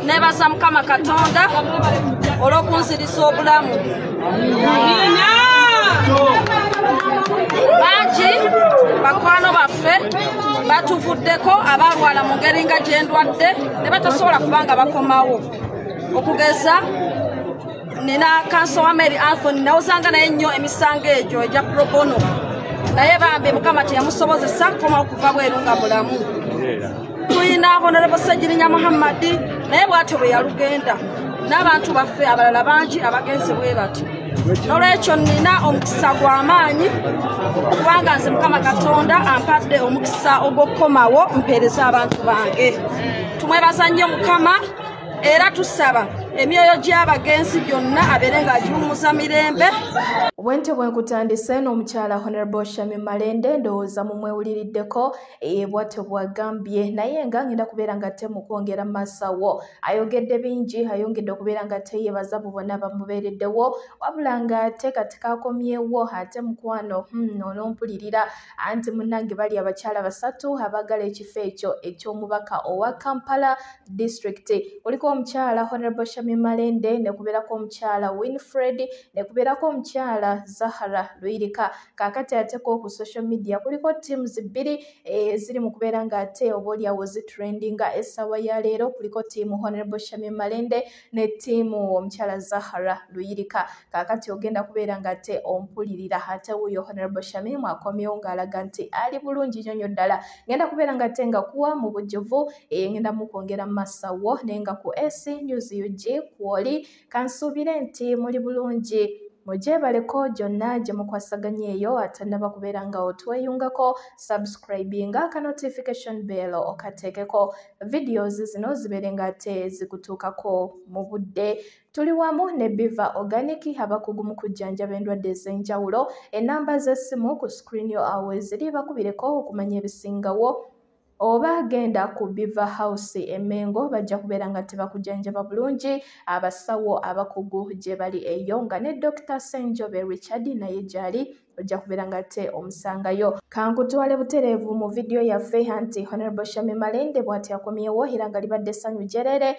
nebaza mukama katonda olwokunzirisa obulamu bangi bakwano baffe batuvuddeko abalwala mu ngeri nga gyendwadde ne batasobola kubanga bakomawo okugeza nina kanso wa mary anthony nawozanga naye nnyo emisango egyo egya probono naye bambi mukama teyamusobozesa kukomawo kuva bweru nga mulamu tulina honorable ssegirinya muhammadi naye bwatyo bwe yalugenda n'abantu baffe abalala bangi abagenze bwe bati nolwekyo nina omukisa gw'amaanyi kubanga nze mukama katonda ampadde omukisa ogw'okukomawo mpeereza abantu bange tumwebaza nnyo mukama era tusaba emyoyo gy'abagenzi gyonna abeere ng'agiwummuza mirembe Bwentyo bwenkutandise n'omukyala Honorable Shami Malende ndowooza mumwewuliriddeko eye bwatyo bwagambye naye nga ngenda kubeera nga te mukwongera masawo ayogedde bingi ayongedde okubeera nga te yebaza bu bona bamubeereddewo wabula nga te kati kakomyewo ate mukwano hmm, onompulirira anti munange bali abakyala basatu abagala ekifo ekyo eky'omubaka owa kampala district kuliko omukyala honorable shami malende nekubeerako omukyala winfred nekubeerako omukyala zahara luyirika kaakati ate ko ku social media kuliko teams bbiri eziri eh, mu kubeera ng'ate oba oliawo zitrendinga essaawa ya leero kuliko tiimu honorable shamim malende ne tiimu omukyala zahara luyirika kaakati ogenda kubeera ng'ate ompulirira ate wuyo honorable shamim akomyewo ng'alaga nti ali bulungi nyo nyo ddala ngenda kubeera ng'ate nga kuwa mu bujjuvu eh, ngenda mukwongera mu masawo naye nga ku ac news ug kwoli Kansuubire nti muli bulungi. Mugyebaleko gyonna gye mukwasaganya eyo atannaba kubeera nga otweyungako subscribinga aka notification bell okateekeko videos zino zibeere nga ate zikutuukako mu budde tuli wamu ne biva organic abakugu mu kujjanjaba endwadde ez'enjawulo ennamba z'essimu ku screen yo awo eziri bakubireko okumanya ebisingawo oba genda ku biva house emengo bajja kubeera nga tebakujanjaba bulungi abasawo abakugu gye bali eyo nga ne dokita senjobe richard naye gyali ojja kubeera nga te omusangayo kankutwale butereevu mu vidiyo yaffe anti honorable shami malende bwati akomyewo era nga libadde essanyu gyerere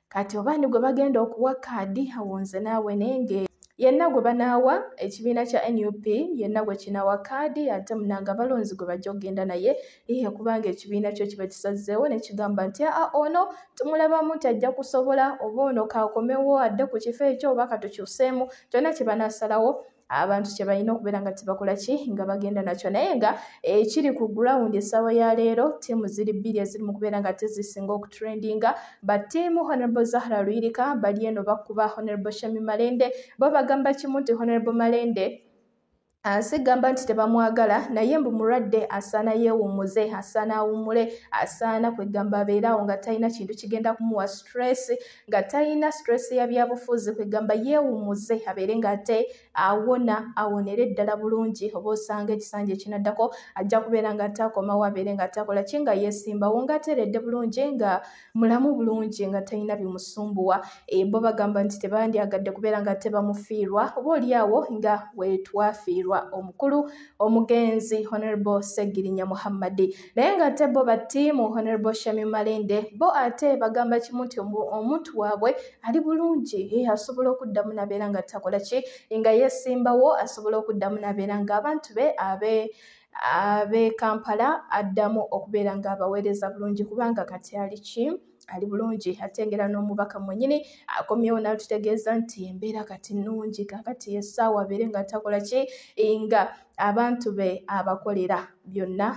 kati oba ni gwe bagenda okuwa kaadi awo nze naawe nenge yenna gwe banaawa ekibiina kya nup yenna gwe kinaawa kaadi ate munanga abalonzi gwe bajja okugenda naye ihe kubanga ekibiina kyo kiba kisazzeewo ne kigamba nti aa ono tumulabamu nti ajja kusobola oba ono kaakomewo adde ku kifo ekyo oba katukyuseemu kyonna kye banaasalawo abantu kyebalina okubeera nga tebakola ki nga bagenda nakyo naye nga ekiri eh, ku ground essaawa ya leero tiimu ziri bbiri eziri mu kubeera nga tezisinga okutrendinga ba tiimu honorable zahra luyirika bali eno bakuba honorable shami malende bo bagamba kimu nti honorable malende Ah, sigamba nti tebamwagala naye mbu mulwadde asaana yeewummuze asaana awummule asaana kwegamba abeeraawo nga talina kintu kigenda kumuwa stress nga talina stress ya byabufuzi kwegamba yeewumuze abeere nga ate awona awonere ddala bulungi oba osanga ekisanja ekinaddako ajja kubeera nga ate akomawo abeere nga atakola ki nga yeesimbawo nga ateredde bulungi nga mulamu bulungi nga talina bimusumbuwa eh, bo bagamba nti tebandyagadde kubeera nga ate bamufiirwa oba olyawo nga wetwafiirwa omukulu omugenzi honorable segirinya muhammadi naye nga ate bo battiimu honorable shami malende bo ate bagamba kimu nti omuntu waabwe ali bulungi ye asobola okuddamu nabeera nga takola ki nga yesimbawo asobola okuddamu nabeera nga abantu be abe abe kampala addamu okubeera nga abaweereza bulungi kubanga kati ali ki ali bulungi ate ngera n'omubaka mwenyini akomyewo n'atutegeeza nti embeera kati nnungi kakati essaawa abeere nga takola ki nga abantu be abakolera byonna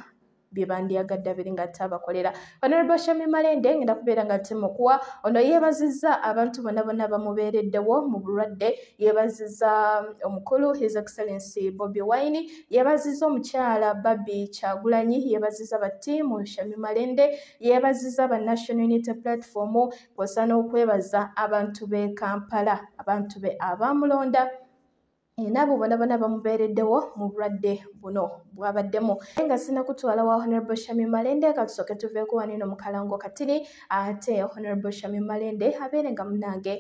byebandyagadde abiri nga ate abakolera honorable shami malende ngenda kubeera nga temukuwa ono yeebazizza abantu bona bona bamubeereddewo mu bulwadde yeebazizza um, omukulu his excellency bobi wine yeebazizza omukyala babi kyagulanyi yeebazizza battiimu shami malende yeebazizza ba National Unity Platform kwosa n'okwebaza abantu b'e Kampala abantu be abaamulonda enabo bona bona bamubeereddewo mu bulwadde buno bwabaddemu naye nga sina kutwala wa honorable shami malende katusooke tuveeko waneno mukalango katiri ate honorable shami malende abeere nga munange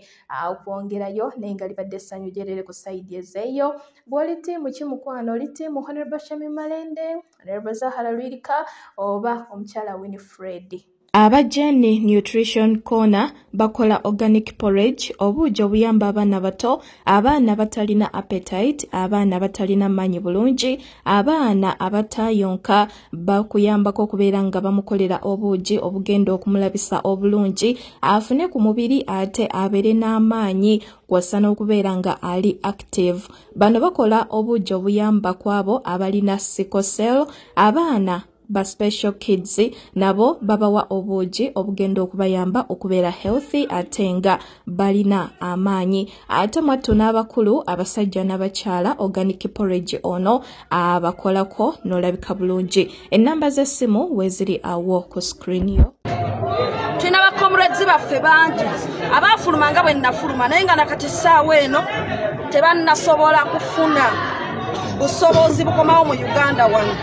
okwongerayo naye nga libadde essanyu gyerere ku sayidi ezeeyo bw'oli tiimu ki mukwano oli tiimu honorable shami malende Honorable Zahara Lwirika oba omukyala Winifred. Aba Jenny Nutrition Corner bakola organic porridge obuugi obuyamba abaana bato, abaana abatalina appetite, abaana abatalina maanyi bulungi, abaana abataayonka bakuyambako okubeera nga bamukolera obuugi obugenda okumulabisa obulungi afune ku mubiri ate abeere n'amaanyi kw'ossa n'okubeera nga ali active. Bano bakola obuugi obuyamba ku abo abalina sikosel, abaana ba special kids nabo babawa obuugi obugenda okubayamba okubeera healthy ate nga balina amaanyi ate mwattu n'abakulu abasajja n'abakyala organic porridge ono abakolako n'olabika bulungi ennamba z'essimu weeziri awo ku sikirini yo tulina bakomrades baffe bangi abaafuluma nga bwe nnafuluma naye nga nakati ssaawa eno tebannasobola kufuna busobozi bukomawo mu uganda wano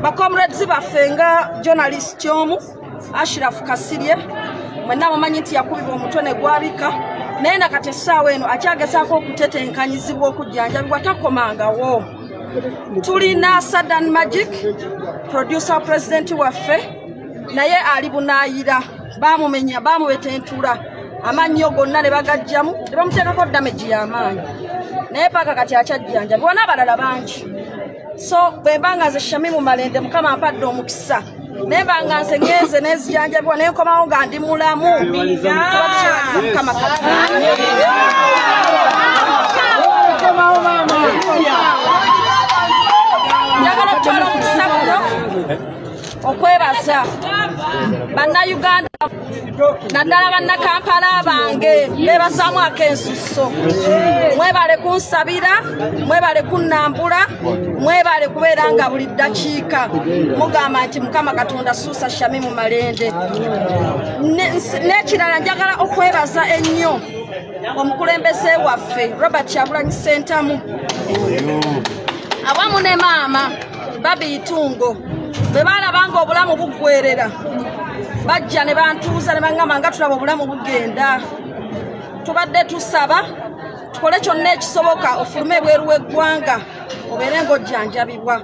bakomrades baffe nga journalist omu ashirafu kasirye mwenna mumanyi nti yakubibwa omutwe ne gwabika naye na kati essaawa eno akyagezaako okutetenkanyizibwa okujjanjabibwa takomangawo tulina sadan magic producer president waffe naye ali bunaayira bamumenya bamubetentura amannyo gonna ne bagajjamu ne bamuteekako damagi y'amaanyi naye paaka kati akyajjanjabibwa n'abalala bangi so bwe mba nga nze shamimu malende mukama ampadde omukisa naye banga nze ngenze nezijanjabibwa naye nkomawo nga ndi mulamu mukama njagala okutwala omukisa guno okwebaza bannayuganda naddala bannakampala bange bebasaamu akensusso mwebale kunsabira mwebale kunnambula mwebale kubeera nga buli ddakiika mugamba nti mukama katonda suusa shami mu malende n'ekirala njagala okwebaza ennyo omukulembeze waffe robert kyagulanyi sentamu awamu ne maama babi itungo bwe baalaba nga obulamu buggwerera bajja ne bantuuza ne baŋŋamba nga tulaba obulamu bugenda tubadde tusaba tukole kyonna ekisoboka ofulume ebweru w'eggwanga obeere ng'ojjanjabibwa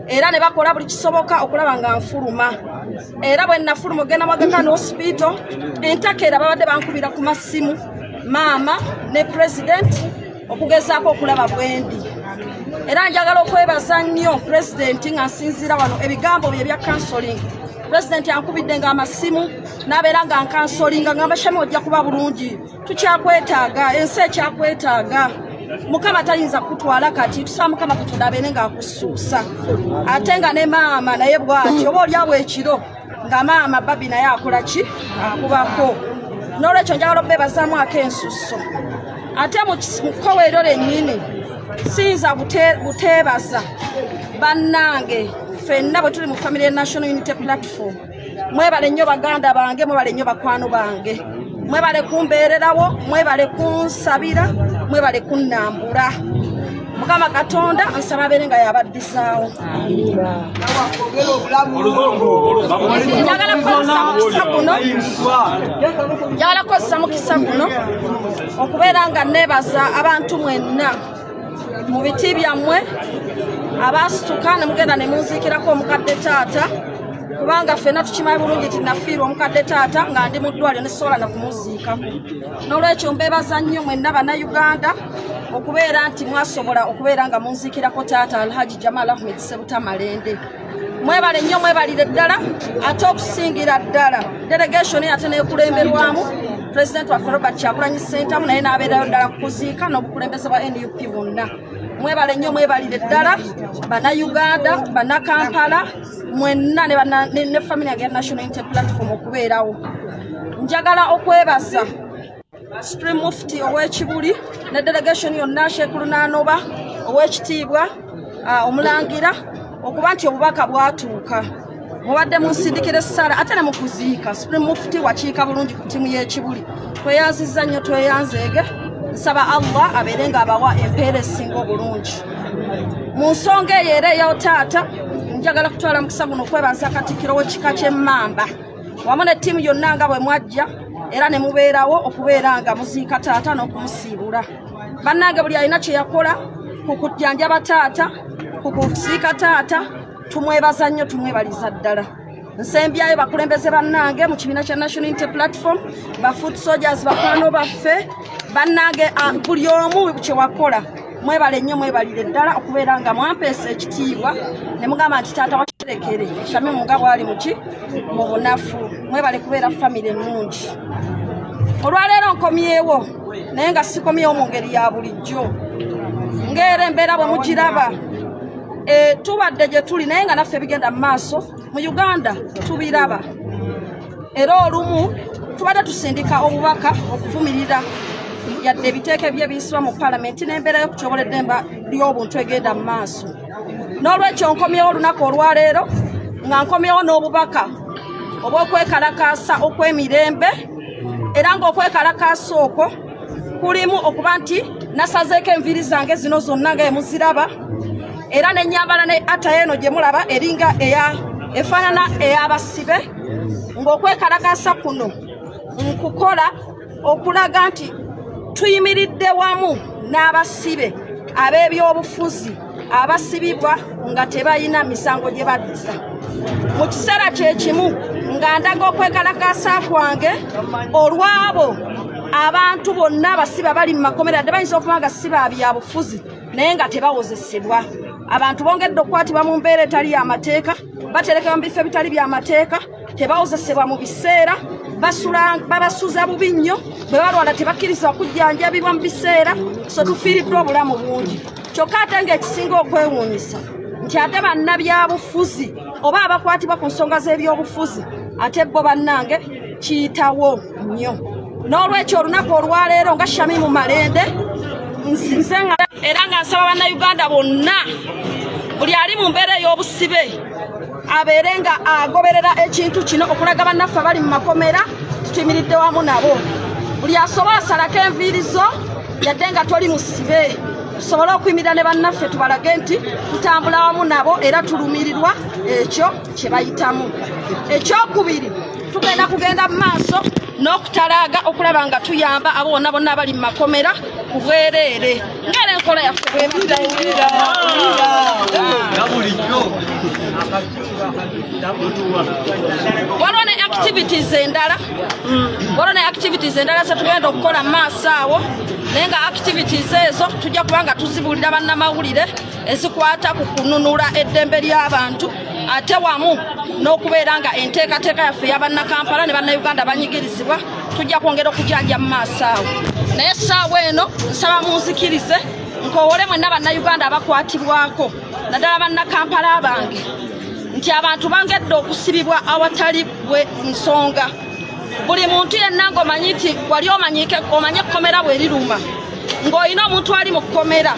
era ne bakola buli kisoboka okulaba nga nfuluma era bwe nnafuluma ogenda mwagaka ne osipiito entakera babadde bankubira ku masimu maama ne pulezidenti okugezaako okulaba bwendi era njagala okwebaza nnyo pulezidenti nga nsinziira wano ebigambo bye bya kansoling pulezidenti ankubidde nga amasimu n'abeera nga nkansolinga ngamba shami ojja kuba bulungi tukyakwetaaga ensi ekyakwetaaga mukama tayinza kutwala kati tusaa mukama katonda abeere ng'akusuusa ate nga ne maama naye bwati oba olyawo ekiro nga maama babi naye akola ki akubako n'olwekyo njagala obeebazaamu ako ensusso ate mu kkowa eryo lennyini siyinza buteebaza bannange ffenna bwe tuli mu famire ya national unity platform mwebale nnyo baganda bange mwebale nnyo bakwano bange mwebale kumbeererawo mwebale kunsabira mwebale kunnambula mukama katonda nsaba abeere nga yabaddizaawo njagala kukozesa mukisa guno njagala kukozesa mukisa guno okubeera nga neebaza abantu mwenna mu biti byammwe abaasituka ne mugenda ne munziikirako omukadde taata kubanga ffena tukimanyi bulungi ti nafiirwa omukadde taata nga ndi mu ddwaliro ne sisobola na kumuziikako n'olwekyo mbeebaza nnyo mwenna bannayuganda okubeera nti mwasobola okubeera nga munziikirako taata alhaji jamal ahmed sebuta malende mwebale nnyo mwebalire ddala ate okusingira ddala delegation ate nekulemberwamu president waffe robert kyakulanyi sentamu naye n'abeerayo ddala kukuziika n'obukulembeze bwa nup bwonna mwebale nnyo mwebalire ddala banauganda banakampala mwenna ne family yange ya national inter platform okubeerawo njagala okwebaza supreme mufti ow'ekibuli ne delegation yonna sheekh lunaanoba ow'ekitiibwa ah, omulangira okuba nti obubaka bwatuuka mubadde munsindikira essala ate ne mukuziika supreme mufti wakiika bulungi ku ttiimu y'ekibuli tweyanziza nnyo tweyanzeege nsaba allah abeere ng'abawa empeera esinga obulungi mu nsonga eyo era eyawo taata njagala kutwala mukisa guno okwebaza katikkiro w'ekika ky'emmamba wamu ne ttiimu yonna nga bwe mwajja era ne mubeerawo okubeera nga muziika taata n'okumusiibula bannange buli alina kye yakola ku kujjanjaba taata ku kusiika taata tumwebaza nnyo tumwebaliza ddala nsembyayo bakulembeze bannange mu kibiina kya national inte platform bafoot soldiers bakwano baffe bannange ah, buli omu kyewakola mwebale nnyo mwebalire ddala okubeera nga mwampeesa ekitiibwa ne mugamba nti taata wakirekere shami muga bwali muki mu bunafu mwebale kubeera famire ennungi olwaleero nkomyewo naye nga sikomyewo mu ngeri ya bulijjo ngaera embeera bwe mugiraba eh, tubadde gye tuli naye nga naffe bigenda mu maaso mu uganda tubiraba era olumu tubadde tusindika obubaka okuvumirira yadde ebiteeka ebyo ebiyisibwa mu palamenti n'embeera y'okutyobola eddemba ly'obuntu egenda mu maaso n'olwekyo nkomyewo olunaku olwaleero nga nkomyewo n'obubaka obw'okwekalakaasa okw'emirembe era ng'okwekalakaasa okwo kulimu okuba nti nasazeeko enviiri zange zino zonna nga emuziraba era nenyambala ne ata eno gyemulaba eringa eya efaanana ey'abasibe ng'okwekalakasa kuno nkukola okulaga nti tuyimiridde wamu n'abasibe ab'ebyobufuzi abasibibwa nga tebalina misango gye baddusa mu kiseera kye kimu nga ndaga okwekalakasa kwange olw'abo abantu bonna abasibe abali mu makomera dde bayinza okuba nga siba byabufuzi naye nga tebawozesebwa abantu bongedde okukwatibwa mu mbeera etali y'amateeka baterekebwa mu bifo ebitali bya mateeka tebawozesebwa mu biseera babasuza bubi nnyo bwe balwala tebakkirizibwa kujjanjabibwa mu biseera so tufiiriddwa obulamu bungi kyokka ate ng'ekisinga okwewuunyisa nti ate bannabyabufuzi oba abakwatibwa ku nsonga z'ebyobufuzi ate bo bannange kiyitawo nnyo n'olwekyo olunaku olwaleero nga shamimu malende nsinze nga era nga nsaba bannayuganda bonna buli ali mu mbeera ey'obusibe abeere nga agoberera ekintu kino okulaga bannaffe abali mu makomera tutimiridde wamu nabo buli asobola salako enviiri zo yadde nga toli musibe tusobole okuyimirira ne bannaffe tubalage nti tutambula wamu nabo era tulumirirwa ekyo kye bayitamu ekyokubiri tugenda kugenda mu maaso n'okutalaaga okulaba nga tuyamba abo bonna bonna abali mu makomera ku bwereere ngera enkola yaffe bwemutayirira waliwo ne activities endala waliwo ne activities endala zetugenda okukola mu maaso awo naye nga activities ezo tujja kuba nga tuzibuulira bannamawulire ezikwata ku kununula eddembe ly'abantu ate wamu n'okubeera nga enteekateeka yaffe yabannakampala ne bannayuganda banyigirizibwa tujja kwongera okujanja mu maaso awo naye saawa eno nsaba munzikirize nkowole mwenna bannayuganda abakwatibwako naddala bannakampala bange nti abantu bangedde okusibibwa awatali bwe nsonga buli muntu yenna ngaomanyi nti wali omanyike omanye ekkomera bwe riruma ng'olina omuntu ali mu kkomera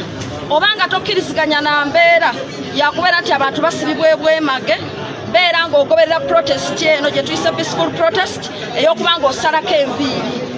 oba nga tokkiriziganya na mbeera yakubeera nti abantu basibibwa ebwemage beera ng'ogoberera protest eno gye tuyise peaceful protest ey'okuba ng'osalako enviiri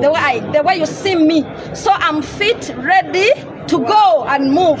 The way, I, the way you see me, so I'm fit, ready to go and move.